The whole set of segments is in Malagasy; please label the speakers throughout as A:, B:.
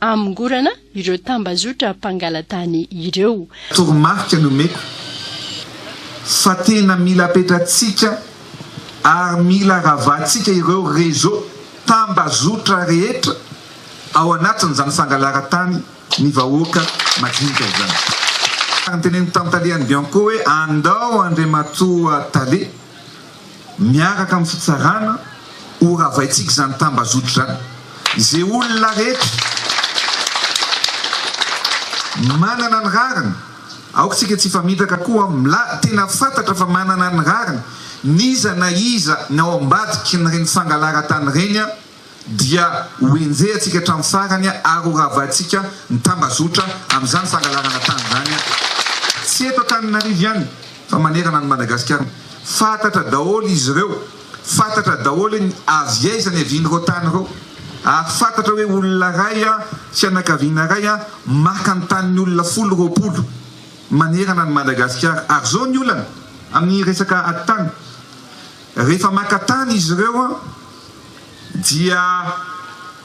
A: hamongorana ireo tambazotra mpangalatany ireo. Toromarika
B: nomeko fa tena mila apetratsika ary mila ravahantsika ireo réseaux, tambazotra, rehetra ao anatin'izany fangalaratany ny vahoaka madinika izany. Ary notenenin'ny Tantalehan'i Bianco hoe andao Andriamatoa Tale Miaraka amin'ny fitsarana, ho ravaintsika izany tambazotra izany. Izay olona rehetra manana ny rariny, aoka isika tsy hifamitaka koa, milay, tena fantatra fa manana ny rariny n'iza na iza ny ao ambadiky ireny fangalaran-tany ireny. dia ho enjehantsika hatramin'ny farany ary ho ravahantsika ny tambazotra amin'izany fangalarana tany izany, tsy eto Antananarivo ihany fa manerana an'i Madagasikara. Fantatra daholo izy ireo, fantatra daholo ny avy aiza niavian'ireo tany ireo ary fantatra hoe olona iray, fianakaviana iray maka ny tanin'ny olona folo, roapolo manerana an'i Madagasikara. Ary izao ny olana amin'ny resaka ady tany, rehefa maka tany izy ireo, dia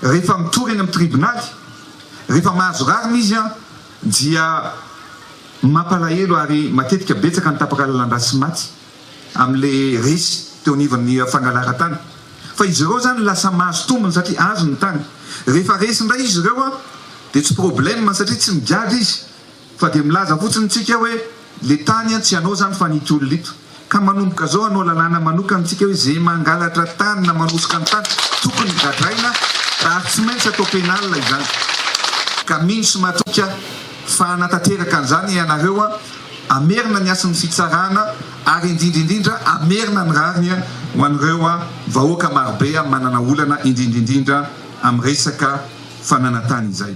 B: rehefa mitory eny amin'ny tribonaly, rehefa mahazo rariny izy dia mampalahelo ary matetika betsaka ny tapaka lalandà sy maty amin'ilay resy teo anivon'ny fangalaran-tany fa izy ireo izany lasa mahazo tombony satria azo ny tany, rehefa resy indray izy ireo dia tsy problème satria tsy migadra izy. Fa dia milaza fotsiny tsika hoe le tany an tsy anao zany fa nity olona ito. Ka manomboka zao anao lalàna manokana tsika hoe ze mangalatra tany na manosoka ny tany tokony gadraina ary tsy maintsy atao pénal izany. Ka mino sy matoky aho fa hanatanteraka an'izany ianareo an. Hamerina ny hasin'ny fitsarana ary indrindra indrindra hamerina ny rariny ho an'ireo vahoaka marobe manana olana indrindra indrindra amin'ny resaka fananantany izay.